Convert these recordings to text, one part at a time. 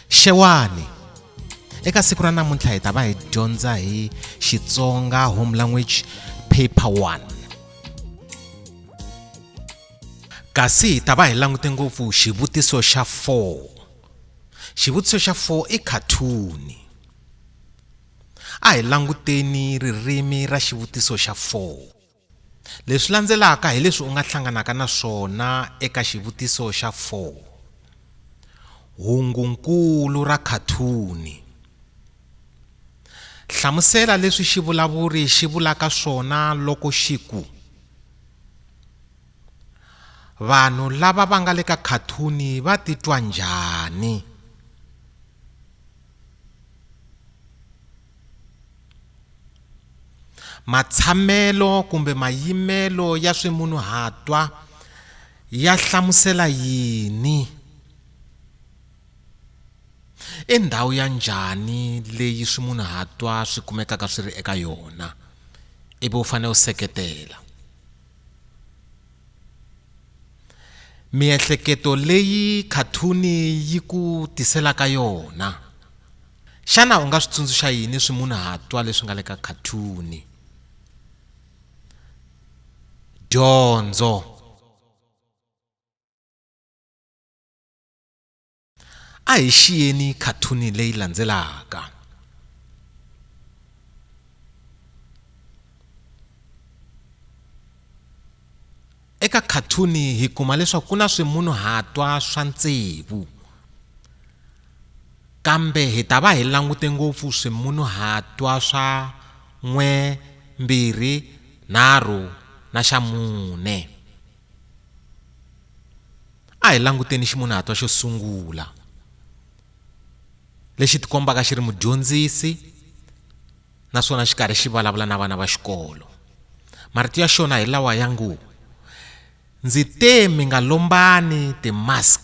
Xewani eka siku ra namuntlha hi ta va hi dyondza hi Xitsonga home language paper 1 kasi hi ta va hi langute ngopfu xivutiso xa 4 xivutiso xa 4 i khathuni A hi languteni ririmi ra xivutiso xa 4. Leswi landzelaka hi leswi u nga hlanganaka na swona eka xivutiso xa 4. Hungu-nkulu ra khathuni. Hlamusela leswi xivulavuri xi vulaka swona loko xi ku, Vanhu lava va nga le ka khathuni va titwa njhani? Matshamelo kumbe mayimelo ya swimunhuhatwa ya hlamusela yini? I ndhawu ya njhani leyi swimunhuhatwa swi kumekaka swi ri eka yona? Ivi u fanele u seketela. Miehleketo leyi khathuni yi ku tiselaka yona. Xana u nga swi tsundzuxa yini swimunhuhatwa leswi nga le ka khathuni? Dyondzo. A hi xiyeni khathuni leyi landzelaka. Eka khathuni hi kuma leswaku ku na swimunhuhatwa swa ntsevu kambe hi ta va hi langute ngopfu swimunhuhatwa swa n'we mbirhi nharhu na xa mune. A hi languteni ximunhatwa xo sungula lexi tikombaka xi ri mudyondzisi naswona xi karhi xi vulavula na vana va xikolo marito ya xona hi lawa ya ngo ndzi te mi nga lombani ti-mask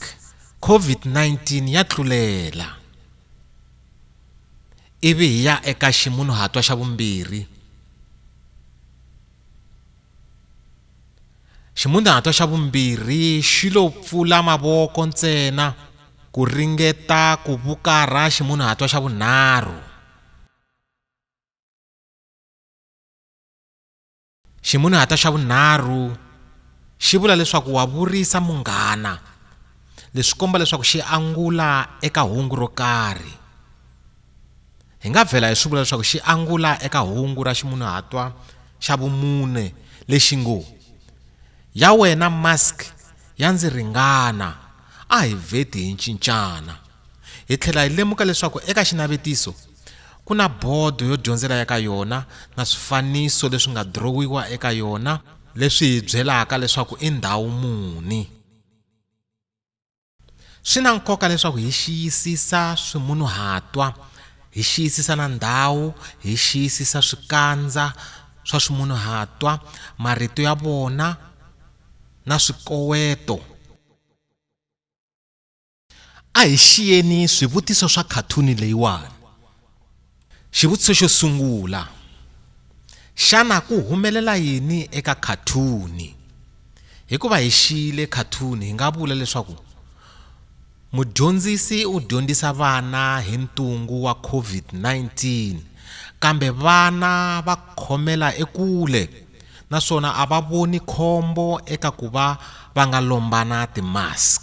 COVID-19 ya tlulela ivi hi ya eka ximunhuhatwa xa vumbirhi Ximunhuhatwa xa vumbirhi xi lo pfula mavoko ntsena ku ringeta ku vukarha ximunhuhatwa xa vunharhu. Ximunhuhatwa xa vunharhu xi vula leswaku wa vurisa munghana, leswi komba leswaku xi angula eka hungu ro karhi. Hi nga vhela hi swi vula leswaku xi angula eka hungu ra ximunhuhatwa xa vumune lexi ngo, Ya wena mask ya ndzi ringana, a hi vheti hi cincana. Hi tlhela hi lemuka leswaku eka xinavetiso ku na bodo yo dyondzela eka yona na swifaniso leswi nga dirowiwa eka yona leswi hi byelaka leswaku i ndhawu muni. Swi na nkoka leswaku hi xiyisisa swimunuhatwa, hi xiyisisa na ndhawu, hi xiyisisa swikandza swa swimunuhatwa, marito ya vona na swikoweto. A hi xiyeni swivutiso swa khathuni leyiwani. Xivutiso xo sungula, xana ku humelela yini eka khathuni? Hikuva hi xiyile khathuni hi nga vula leswaku mudyondzisi u dyondzisa vana hi ntungu wa COVID-19 kambe vana va khomela ekule naswona a va voni khombo eka ku va va nga lombana ti-mask.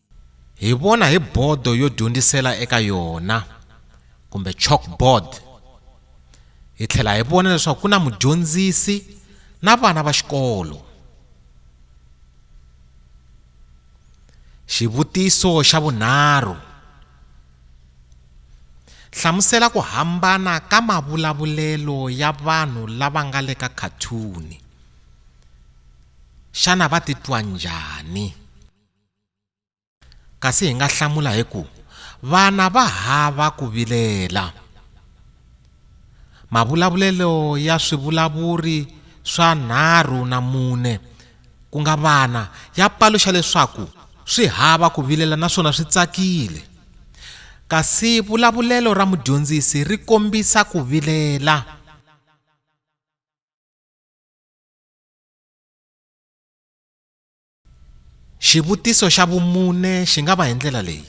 hi vona hi bodo yo dyondzisela eka yona kumbe chalkboard hi tlhela hi vona leswaku ku na mudyondzisi na vana va xikolo xivutiso xa vunharhu hlamusela ku hambana ka mavulavulelo ya vanhu lava nga le ka khathuni xana va titwa njhani kasi hi nga hlamula hi ku vana va hava ku vilela mavulavulelo ya swivulavuri swa nharhu na mune ku nga vana ya paluxa leswaku swi hava ku vilela naswona swi tsakile kasi vulavulelo ra mudyondzisi ri kombisa ku vilela Xivutiso xa vumune xi nga va hi ndlela leyi,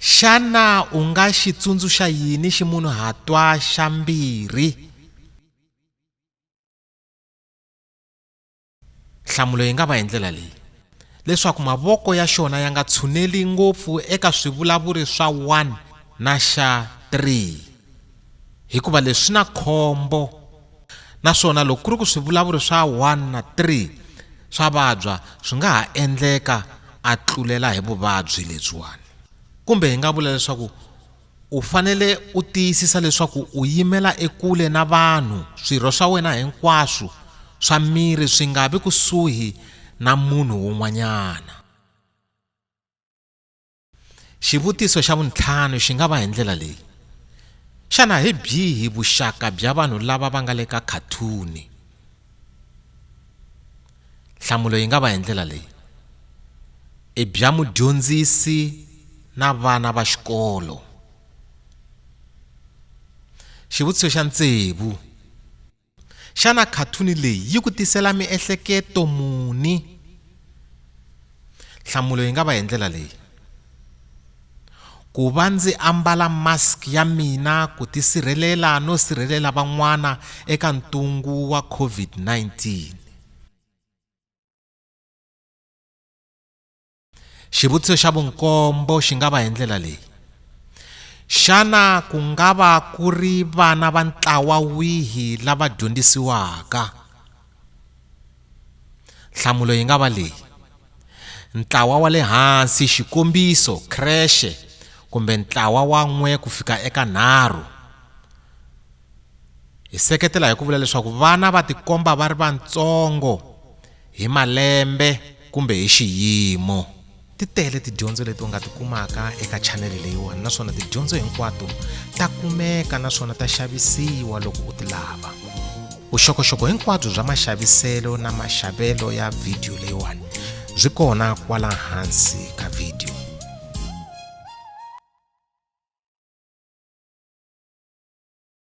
xana u nga xi tsundzuxa yini ximunhuhatwa xa mbirhi? Nhlamulo yi nga va hi ndlela leyi, leswaku mavoko ya xona ya nga tshuneli ngopfu eka swivulavuri swa 1 na xa 3. hikuva leswi swi na khombo naswona loko ku ri ku swivulavuri swa 1 na 3 swa vabya swi nga ha endleka a tlulela hi vuvabyi lebyiwani kumbe hi nga vula leswaku u fanele u tiyisisa leswaku u yimela ekule na vanhu swirho swa wena hinkwaswo swa miri swi nga vi kusuhi na munhu wun'wanyana xivutiso xa vuntlhanu xi nga va hi ndlela leyi xana hi byihi vuxaka bya vanhu lava va nga le ka khathuni nhlamulo yi nga va hi ndlela leyi i bya mudyondzisi na vana va xikolo xivutiso xa ntsevu Xana khathuni leyi yi ku tisela miehleketo muni? Nhlamulo yi nga va hi ndlela leyi. Ku va ndzi ambala mask ya mina ku tisirhelela no sirhelela van'wana eka ntungu wa COVID-19. xivutiso xa vunkombo xi nga va hi ndlela leyi xana ku nga va ku ri vana va ntlawa wihi lava dyondzisiwaka nhlamulo yi nga va leyi ntlawa wa le hansi xikombiso creche kumbe ntlawa wa n'we ku fika eka nharhu hi seketela hi ku vula leswaku vana va tikomba va ri vatsongo Hi malembe kumbe hi xiyimo. Ti tele tidyondzo leti u nga ti kumaka eka chanele leyiwani naswona tidyondzo hinkwato ta kumeka naswona ta xavisiwa loko u ti lava. Vuxokoxoko hinkwabyo bya maxaviselo na maxavelo ya vhidiyo leyiwani byi kona kwala hansi ka vhidiyo.